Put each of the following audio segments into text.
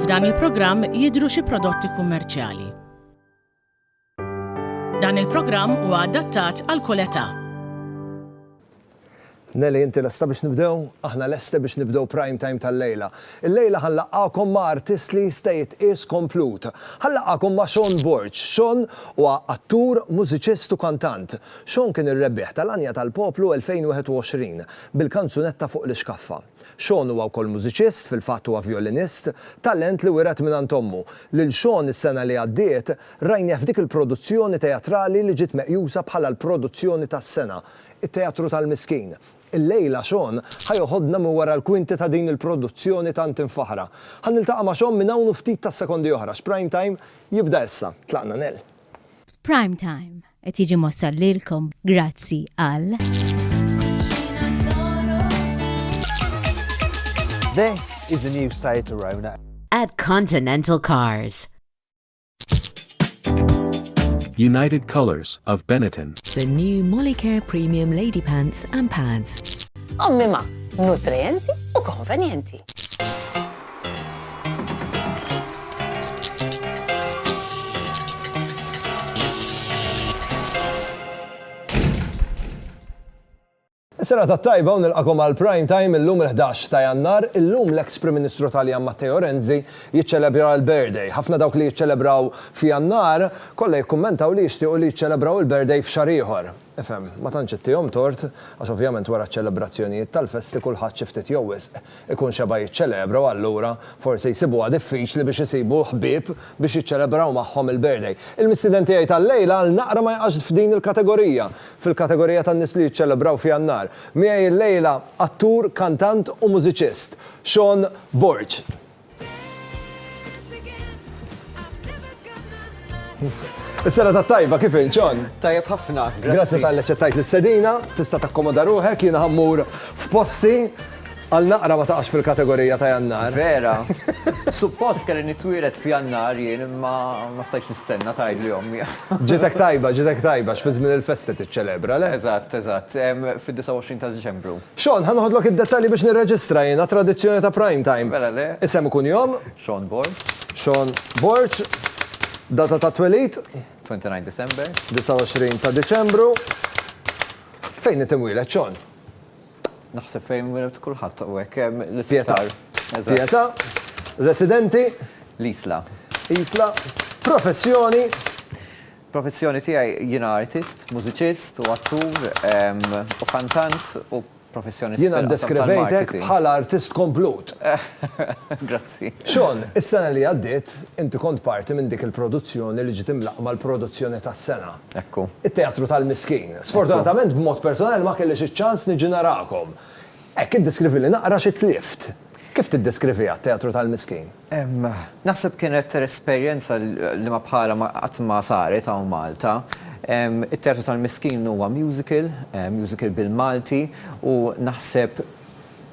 F'dan il-programm jidhru xi prodotti kummerċjali. Dan il-programm huwa adattat għal kull età. Nelly, inti lesta biex nibdew? Aħna lesti biex nibdew Prime Time tal-lejla. Illejla ħa nlaqqagħkom ma' artist li jista' jitqies komplut. Ħa nlaqqagħkom ma' Sean Borg. Sean huwa attur, mużiċist u kantant. Sean kien ir-rebbieħ tal-Għanja tal-Poplu 2021, bil-kanzunetta Fuq l-Ixkaffa. Sean huwa wkoll mużiċist, fil-fatt huwa vjolinist, talent li wiret mingħand ommu. Lil Sean is-sena li għaddiet rajnieh f'dik il-produzzjoni teatrali li ġiet meqjusa bħala l-produzzjoni tas-sena, It-Teatru tal-Miskin. Illejla Shawn ħa joħodna minn wara l-kwinti ta' din il-produzzjoni tant imfaħħra. Ħa niltaqa' ma' Shawn minn hawn u ftit tas-sekondi oħra x'Prime Time jibda issa. Tlaqna Nell. Prime Time qed jiġi mwassal lilkom grazzi għal. This is the new Seat Arona. At Continental Cars. United Colors of Benetton. The new Molicare Premium Lady Pants and Pads. Ommi ma, nutrienti u konvenjenti. Is-serata t-tajba u nilqakom għal Prime Time illum il-ħdax ta' Jannar, illum l-eks Prim Ministru Taljan Matteo Renzi jiċċelebra l-birthday. Ħafna dawk li jiċċelebraw f'Jannar, kollha jikkummentaw li jixtiequ li jiċċelebraw il-birthday f'xahar ieħor. Ifhem, ma tantx ittihom tort, għax ovvjament wara ċ-ċelebrazzjonijiet tal-festi kulħadd xi ftit jew wisq ikun xebgħa jiċċelebra u allura forsi jsibuha diffiċli biex isibu ħbieb biex jiċċelebraw magħhom il-birthday. Il-mistieden tiegħi tal-lejla għal naqra ma jaqax f'din il-kategorija, fil-kategorija tan-nies li jiċċelebraw f'Jannar. Miegħi llejla attur, kantant u mużiċist, Sean Borg. Is-sena ta' tajba kif inċon? Tajjeb ħafna, grazzi. Grazzi tal ċettajt l-istedina, tista' takkomoda ruħek, jiena ħammur f'posti għal naqra ma taqax fil-kategorija ta' jannar. Vera. Suppost kelli nitwiret f'jannar jien imma ma stajx nistenna tajb li ommi. Ġitek tajba, ġitek tajba, x'fiżmin il-festi tiċċelebra, le? Eżatt, eżatt, fid-29 ta' Diċembru. Shawn, ħa noħodlok id-dettalji biex nirreġistra jiena t-tradizzjoni ta' Prime Time. Mela le. Isem u kunjom? Shawn Borg. Shawn Borg. Data ta' twelid? 29 December. 29 ta' Diċembru. Fejn int imwieled, Shawn? Naħseb fejn inwieled kulħadd u hekk, l-isptar. Eżatt. Pietà. Residenti? L-Isla. Isla. Professjoni? Professjoni tiegħi, jiena artist, mużiċist u attur u kantant u professjonist fil-qasam tal-marketing. Jiena ddeskrivejtek bħala artist komplut. Grazzi. Shawn, is-sena li għaddiet inti kont parti minn dik il-produzzjoni li ġiet imlaqqma l-produzzjoni tas-sena. Ekku. It-Teatru tal-Miskin. Sfortunatament b'mod personali ma kellix iċ-ċans niġi narakom. Hekk iddeskrivili naqra xi tlift. Kif tiddeskriviha t-Teatru tal-Miskin? Naħseb kienet esperjenza li ma bħalha ma qatt ma saret hawn Malta. It-Teatru tal-Miskin huwa musical, musical bil-Malti, u naħseb,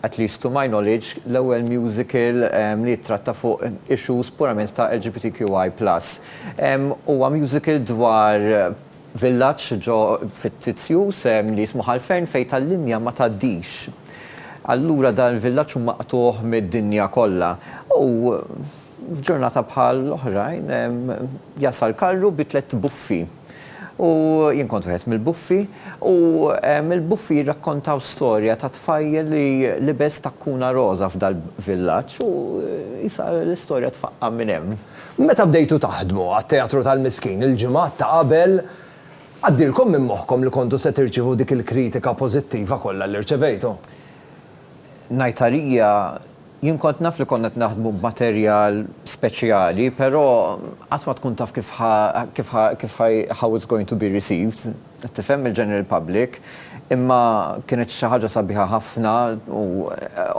at least to my knowledge, l-ewwel musical li jittratta fuq issues purament ta' LGBTQI plus. Huwa musical dwar villaġġ ġo fittizju sehem li jismu Ħalfern fejn tal-linja ma tgħaddix. Allura dan il-villaġġ hu maqtugħ mid-dinja kollha. U f'ġurnata bħal oħrajn jasal karru bi tlett buffi. U jien kont wieħed mill-buffi u l-buffi jirrakkontaw storja ta' tfajjel li libes takkuna roża f'dal-villaġġ u qisha l-istorja tfaqqa' minn hemm. Meta bdejtu taħdmu għat-Teatru tal-Miskin il-ġimgħat ta' qabel, għaddielkom minn moħħkom li kontu se tirċievu dik il-kritika pożittiva kollha li rċevejtu? Ngħid għalija, jien kont naf li konna qed naħdmu b'materjal speċjali, però qatt ma tkun taf kif ħa, kif ħa, kif ħa, how it's going to be received, qed tifhem, mill-general public. Imma kienet xi ħaġa sabiħa ħafna u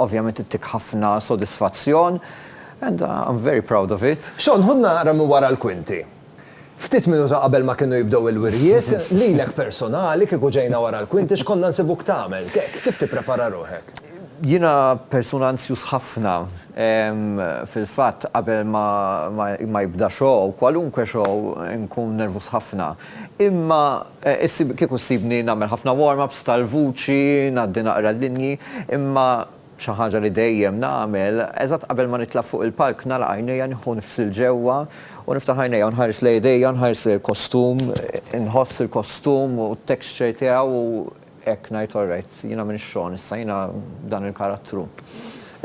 ovvjament ittik ħafna sodisfazzjon. And I'm very proud of it. Shawn, ħu naqra minn wara l-kwinti. Ftit minuta qabel ma kienu jibdew il-wirjiet, lilek personali kieku ġejna wara l-kwinti x'konna nsibuk tagħmel? Kif tipprepara ruħek? Jiena persuna anzjuż ħafna. Fil-fatt qabel ma jibda show, kwalunkwe show, inkun nervuż ħafna. Imma kieku ssibni nagħmel ħafna warm-ups tal-vuċi, ngħaddi naqra l-linji, imma Xi ħaġa li dejjem nagħmel, eżatt qabel ma nitla' fuq il-palk nagħlaq għajnejja nieħu nifs 'il ġewwa u niftaħ għajnejja u nħares lejn idejja, nħares lejn il-kostum, inħoss il-kostum u t-texture tiegħu u hekk ngħid all right, jiena m'iniex Sean issa, jiena dan il-karattru.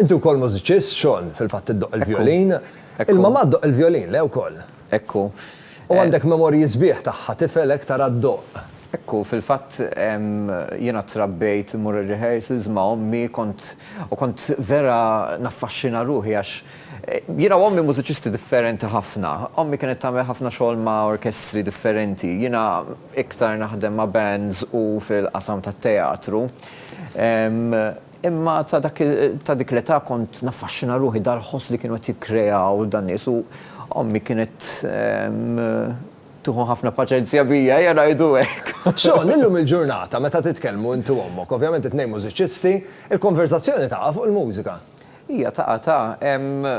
Inti wkoll mużiċist, Sean, fil-fatt iddoqq il-vjolin. Il-mamà ddoqq il-vjolin, le wkoll? Hekk hu. U għandek memorji sbieħ tagħha, tifelek tara d-doqq. Hekk hu, fil-fatt jiena trabbejt immur ir-rehearsals ma' ommi, kont u kont vera naffaxxina ruħi għax jiena u ommi mużiċisti differenti ħafna. Ommi kienet tagħmel ħafna xogħol ma' orkestri differenti, jiena iktar naħdem ma' bands u fil-qasam tat-teatru. Imma ta' dak ta' dik l-età kont naffaxxina ruħi dal-ħoss li kienu qed jikkreaw dan-nies u ommi kienet tieħu ħafna paċenzja bija, ejja ngħidu hekk. Shawn, illum il-ġurnata meta titkellmu int u ommok, ovvjament it-tnejn mużiċisti, il-konverżazzjoni taqa' fuq il-mużika. Hija taqa' ta' hemm.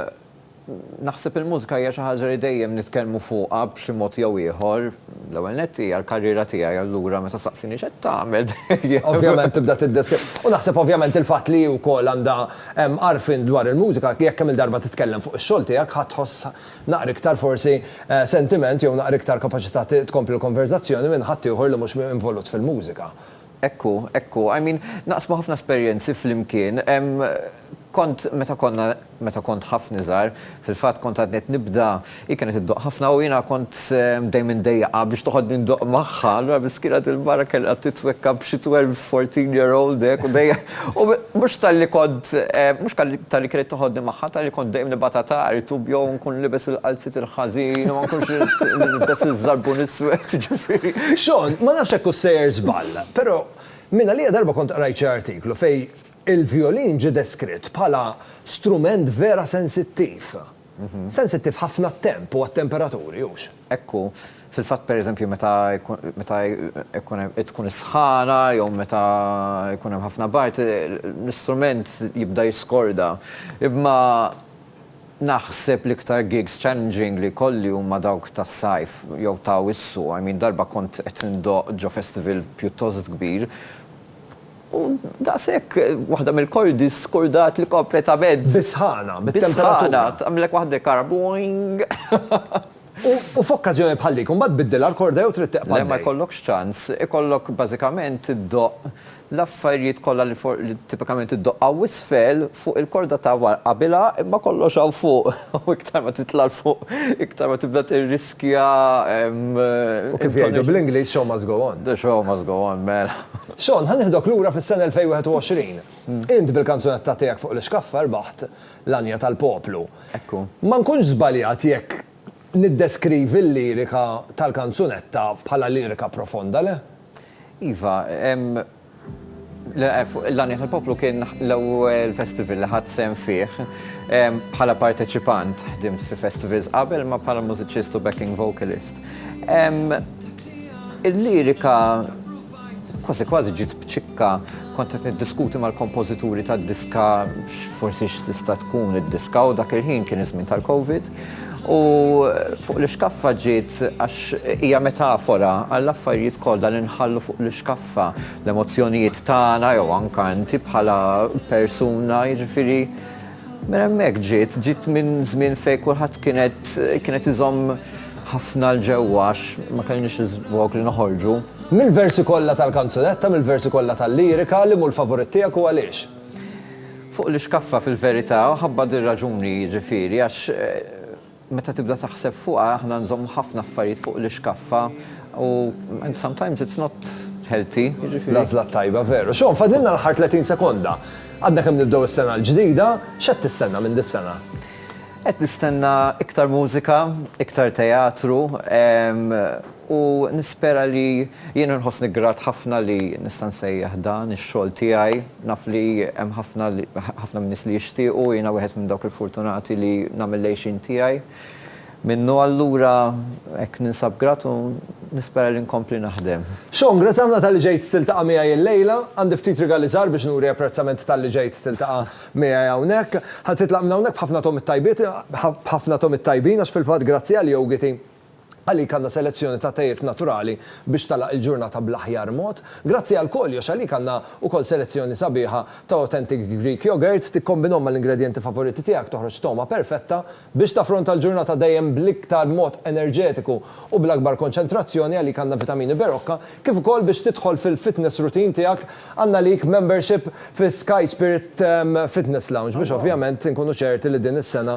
Naħseb il-mużika hija xi ħaġa li dejjem nitkellmu fuqha b'xi mod jew ieħor. L-ewwel nett hija l-karriera tiegħi allura meta tistaqsini x'qed tagħmel dejjem. Ovvjament tibda tiddeskrivi. U naħseb ovvjament il-fatt li hi wkoll għandha għarfien dwar il-mużika, jekk kemm-il darba titkellem fuq ix-xogħol tiegħek ħa tħoss naqra iktar forsi sentiment jew naqra iktar kapaċità tkompli l-konverżazzjoni minn ħaddieħor li mhux involut fil-mużika. Hekk hu, hekk hu. I mean, naqsmu ħafna esperjenzi flimkien. Kont, meta konna, meta kont ħafna iżgħar, fil-fatt kont għadni qed nibda, hi kienet iddoqq ħafna u jiena kont dejjem indejjaqha biex toħodni ndoqq magħha, allura miskina dil-mara kellha titwekka b'xi twelve, fourteen year old hekk u dejjem U mhux talli kont, mhux talli kienet toħodni magħha, talli kont dejjem nibgħatha tard u jew nkun libes il-qalziet il-ħażin u ma nkunx irrid nilbes iż-żarbun iswed, jiġifieri. Shawn, ma nafx hekk hux sejjer żball, però mingħalija darba kont qrajt xi artiklu fejn il-vjolin ġie deskritt bħala strument vera sensittiv. Sensittiv ħafna għat-temp u għat-temperaturi, hux? Hekk hu. Fil-fatt, pereżempju, meta meta jkun hemm tkun is-sħana jew meta jkun hemm ħafna bard, l-istrument jibda jiskorda. Imma naħseb l-iktar gigs challenging li jkolli huma dawk tas-sajf jew ta' Awwissu. I mean, darba kont qed indoqq ġo festival pjuttost kbir, U daqshekk, waħda mill-koll diskurdat li kompletament. Bis-sħana, bit-temperatura. Bis-sħana, tagħmilek waħda jkarha boing! U f'okkażjoni bħal dik, imbagħad tbiddilha l-korda jew trid teqbad. Le, ma jkollokx ċans. Ikollok bażikament iddoqq l-affarijiet kollha li fuq li tipikament iddoqq hawn isfel fuq il-korda ta' wara. Qabilha, imma kollox hawn fuq. U iktar ma titla' 'l fuq, iktar ma tibda tirriskja. U kif jgħidu bl-Ingliż, show must go on. The show must go on, mela. Shawn, ħa nieħdok lura fis-sena 2021. Int bil-kanzunetta tiegħek fuq l-ixkaffa rbaħt l-għanja tal-poplu. Ekku. Ma nkunx żbaljat jekk niddeskrivi l-lirika tal-kanzunetta bħala lirika profonda, le? Iva, l-għanja tal-poplu kien l-ewwel festival li ħadt sehem fih bħala parteċipant. Ħdimt fi festivals qabel imma bħala mużiċist u backing vocalist. Il-lirika, Kważi kważi ġiet b'ċikka, kont qed niddiskuti mal-kompożituri tad-diska x'forsi x'tista' tkun id-diska u dak il-ħin kien iż-żmien tal-Covid u fuq l-ixkaffa ġiet għax hija metafora għall-affarijiet kollha li nħallu fuq l-ixkaffa, l-emozzjonijiet tagħna jew anke inti bħala persuna jiġifieri Minn hemmhekk ġiet, ġiet minn żmien fejn kulħadd kienet kienet iżomm ħafna l ġewwa għax ma kellniex iż-żvog li noħorġu. Mill-versi kollha tal-kanzunetta, mill-versi kollha tal-lirika, liema hu l-favorit tiegħek u għaliex? Fuq l-ixkaffa fil-verità, u ħabba dir-raġuni jiġifieri għax, Meta tibda taħseb fuqha aħna nżommu ħafna affarijiet fuq l-ixkaffa u and sometimes it's not healthy, jiġifieri. L-għażla t-tajba, veru. Shawn, fadlilna l-aħħar 30 sekonda. Għadna kemm nibdew is-sena l-ġdida, x'qed tistenna minn dis-sena? Qed nistenna iktar mużika, iktar teatru, U nispera li jiena nħossni grat ħafna li nista' nsejjaħ dan ix-xogħol tiegħi. Naf li hemm ħafna li, ħafna min-nies li jixtiequ, u jiena wieħed minn dawk il-fortunati li nagħmel l-għixien tiegħi minnu. Allura hekk ninsab grat u nispera li nkompli naħdem. Sean, grazzi ħafna talli ġejt tiltaqa' miegħi illejla. Għandi ftit rigali żgħar biex nuri apprezzament talli ġejt tiltaqa' miegħi hawnhekk. Ħa titlaq minn hawnhekk b'ħafna togħmiet tajbiet, b'ħafna togħmiet tajbin, għax fil-fatt grazzi għal jogiti, Għalik għandna selezzjoni ta' tejiet naturali biex tagħlaq il-ġurnata bl-aħjar mod. Grazzi għal Kollox għalik għandna wkoll selezzjoni sabiħa ta' authentic Greek yogurt, tikkombinhom mal-ingredjenti favoriti tiegħek toħroġ togħma perfetta biex taffronta l-ġurnata dejjem bl-iktar mod enerġetiku u bl-akbar konċentrazzjoni għalik għandna vitamini Berocca kif ukoll biex tidħol fil-fitness routine tiegħek għandna għalik membership fi Sky Spirit Fitness Lounge biex ovvjament inkunu ċerti li din is-sena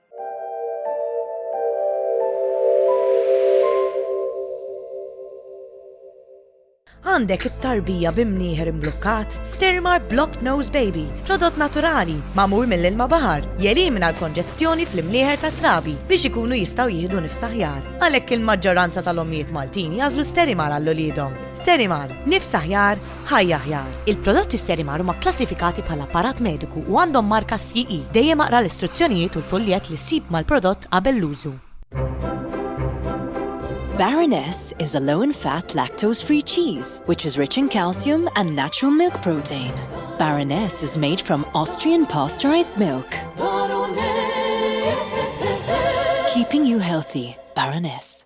Għandek it-tarbija bi mnieħer imblukkat? Stirmar Blocked Nose Baby, prodott naturali, magħmul mill-ilma baħar, jelimina l-konġestjoni fl-imnieħer tat-trabi biex ikunu jistgħu jieħdu nifs aħjar. Għalhekk il-maġġoranza tal-ommijiet Maltin jażlu Sterimar għal uliedhom. Sterimar, nifs aħjar, Ħajja Aħjar, Il-prodotti Sterimar huma kklassifikati bħala apparat mediku u għandhom marka CE. Dejjem aqra l-istruzzjonijiet u l-fuljett li ssib mal-prodott qabel l-użu. Baroness is a low in fat lactose free cheese which is rich in calcium and natural milk protein. Baroness is made from Austrian pasteurized milk. Keeping you healthy, Baroness.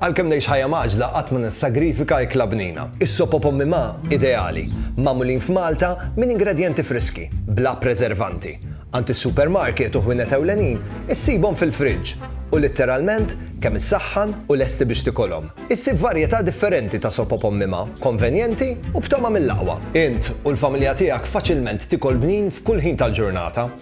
Għalkemm ngħix ħajja mgħaġġla qatt ma nissagrifika ikla bnina. Is-sop o pommi ma' ideali, magħmulin f'Malta minn ingredjenti friski, bla preservanti. Għand is-supermarket u ħwienet ewlenin issibhom fil-friġġ u litteralment kemm issaħħan u lesti biex tikolhom. Issib varjetà differenti ta' sop o pommi ma', konvenjenti u b'togħma mill-aqwa. Int u l-familja tiegħek faċilment tikol bnin f'kull ħin tal-ġurnata.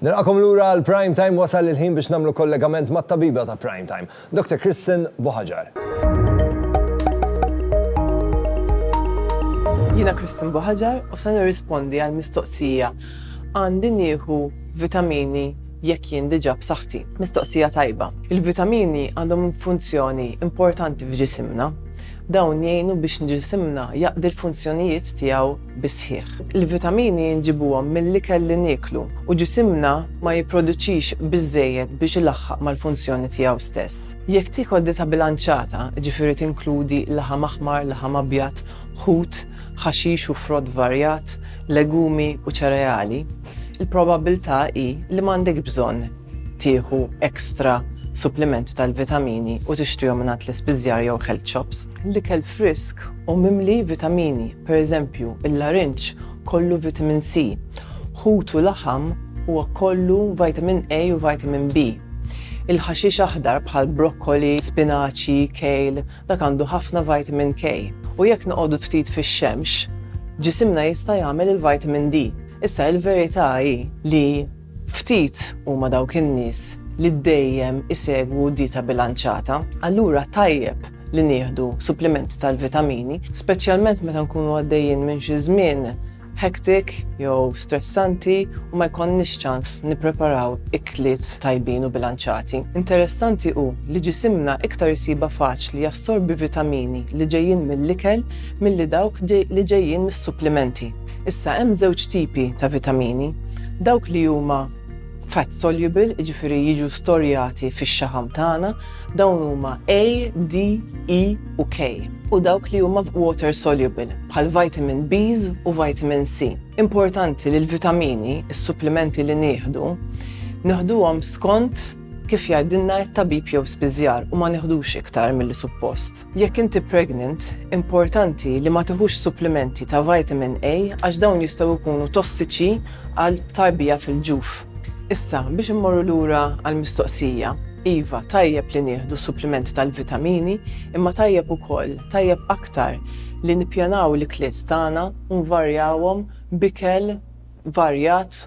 Nilqagħkom lura għal Prime Time, wasal il-ħin biex nagħmlu kollegament mat-tabiba ta' Prime Time, Dr. Kristen Buhaġar. Jiena Kristen Buħaġar u se nirrispondi għal mistoqsija għandi nieħu vitamini jekk jien diġà b'saħħti. Mistoqsija tajba. Il-vitamini għandhom funzjoni importanti f'ġisimna. Dawn jgħinu biex ġisimna jaqdi l-funzjonijiet tiegħu bis-sħiħ. Il-vitamini nġibuhom mill-ikel li nieklu u ġisimna ma jipproduċix biżżejjed biex ilaħħaq mal-funzjoni tiegħu stess. Jekk tiekol dieta bilanċata, jiġifieri tinkludi laħam aħmar, laħam abjad, ħut, ħaxix u frott varjat, legumi u ċereali, il-probabbiltà hi li m'għandekx bżonn tieħu extra supplimenti tal-vitamini u tixtrihom mingħand l-ispiżjar jew health shops. L-ikel frisk u mimli vitamini, pereżempju, il-larinġ kollu vitamin C, ħut u laħam huwa kollu vitamin A u vitamin B. Il-ħaxix aħdar bħal brokkoli, spinaċi, kale, dak għandu ħafna vitamin K. U jekk noqogħdu ftit fix-xemx, ġisimna jista' jagħmel il-vitamin D. Issa il-verità hi li Ftit huma dawk in-nies li dejjem isegwu dieta bilanċata, allura tajjeb li nieħdu supplimenti tal-vitamini, speċjalment meta nkunu għaddejjin minn xi żmien hectic jew stressanti u ma jkollniex ċans nippreparaw ikliet tajbin u bilanċati. Interessanti hu li ġisimna iktar isibha faċli jassorbi vitamini li ġejjin mill-ikel milli dawk li ġejjin mis-supplimenti. Issa hemm żewġ tipi ta' vitamini, dawk li huma fat soluble, jiġifieri jiġu storjati fix-xaħam tagħna, dawn huma A, D, E u K. U dawk li huma water soluble, bħal vitamin Bs u vitamin C. Importanti li l-vitamini, is-supplimenti li nieħdu, neħduhom skont Kif jgħidilna t-tabib jew spiżjar u ma neħdux iktar milli suppost. Jekk inti pregnant, importanti li ma tiħux supplimenti ta' vitamin A għax dawn jistgħu jkunu tossiċi għal tarbija fil-ġuf. Issa, biex immorru lura għall-mistoqsija, iva, tajjeb li nieħdu supplimenti tal-vitamini, imma tajjeb ukoll, tajjeb aktar, li nippjanaw l-ikliet tagħna u nvarjawhom b'ikel varjat,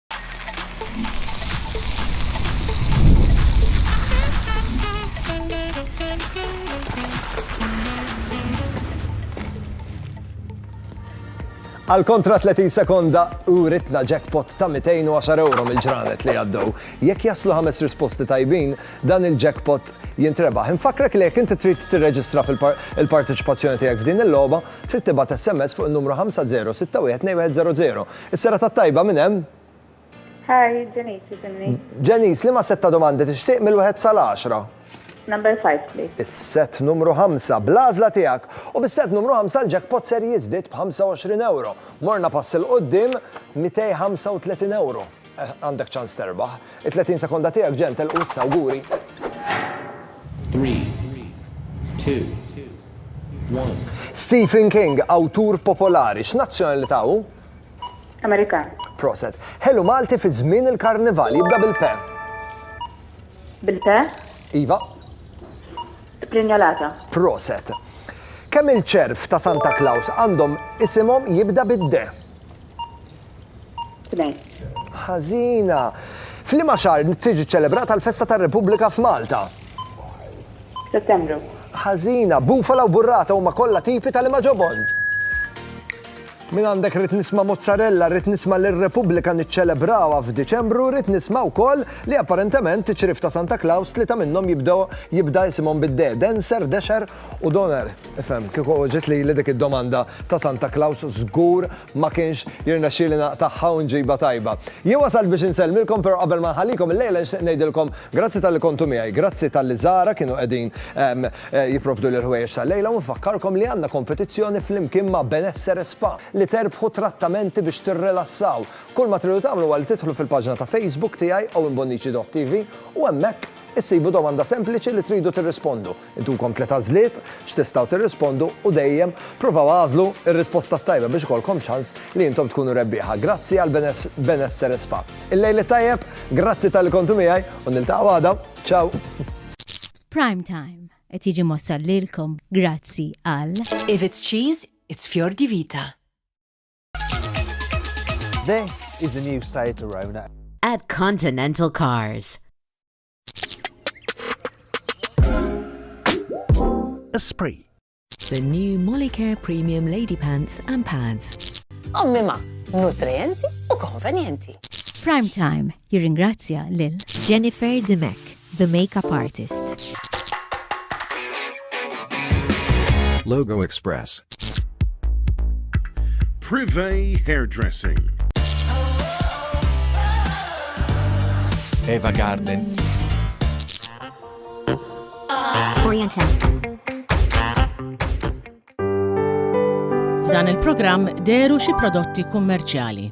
Għal kontra 30 sekonda u ritna jackpot ta' 210 euro mill-ġranet li għaddew. Jekk jaslu ħames risposti tajbin, dan il-jackpot jintrebaħ. Infakrek li jekk inti trid tirreġistra fil-parteċipazzjoni tiegħek f'din il-logħba, trid tibgħat SMS fuq in-numru 5061 210 Is-serata t-tajba minn hemm? Hi, Janice jisimni. Janice, liema sett ta' domandi tixtieq mill-wieħed sal-għaxra? Number five, please. Is-sett numru ħamsa, bl-għażla tiegħek. U bis-sett numru ħamsa l-jackpot ser jiżdied b'25€. Morna pass 'il quddiem, 235€. Għandek ċans terbaħ. It-30 sekonda tiegħek ġew telqu issa awguri. Stephen King, awtur popolari, x'nazzjonalità hu? Amerikan. Proset. Ħelu Malti fi żmien il-Karnival jibda bil-pe. Bil-pe? Iva. Sprinjolata. Proset. Kemm il-ċerv ta' Santa Claus għandhom isimhom jibda bid-de? Tnejn. Ħażina. F'liema xahar tiġi ċċelebrata l-festa tar-Repubblika f'Malta? Settembru. Ħażina. Bufala u burrata huma kollha tipi ta' liema ġobon. Minn għandek rrid nisma' mozzarella, rrid nisma' li r-Repubblika niċċelebrawha f'Diċembru, rrid nisma' wkoll li apparentement iċ-ċriev ta' Santa Klaws tlieta minnhom jibdew jibda isimhom bid-de, Denser, Dexer u Donner. Ifhem, kieku ġiet lili dik id-domanda ta' Santa Klaws żgur ma kienx jirnexxieli naqtagħha u nġibha tajba. Jien wasalt biex insellmilkom però qabel ma nħallikom illejla nixtieq ngħidilkom grazzi talli kontu miegħi, grazzi talli żgħara kienu qegħdin jipprovduli l-ħwejjeġ tal-lejla u nfakkarkom li għandna kompetizzjoni flimkien ma' Benessere Spa li terbħu trattamenti biex tirrilassaw. Kull ma tridu tagħmlu huwa li tidħlu fil-paġna ta' Facebook tiegħi owenbonnici.tv u hemmhekk issibu domanda sempliċi li tridu tirrispondu. Intukom tliet għażliet x'tistgħu tirrispondu u dejjem provaw agħżlu r-risposta t-tajba biex ikollkom ċans li intom tkunu rebbieħa. Grazzi għal Benessere Spa. Il-lejl it-tajjeb, grazzi talli kontu miegħi u niltaqgħu għada. Ciao! Prime Time qed jiġi mwassal lilkom grazzi għal. If it's cheese, it's Fior di Vita. This is the new Seat Arona. At Continental Cars. Esprit. The new Molicare Premium Lady Pants and Pads. Ommi ma, nutrienti u konvenjenti. Prime Time jirringrazzja lil Jennifer Dimek, the makeup artist. Logo Express. Privé Hairdressing. Eva Garden. Oriental. F'dan il-programm deru xi prodotti kummerċjali.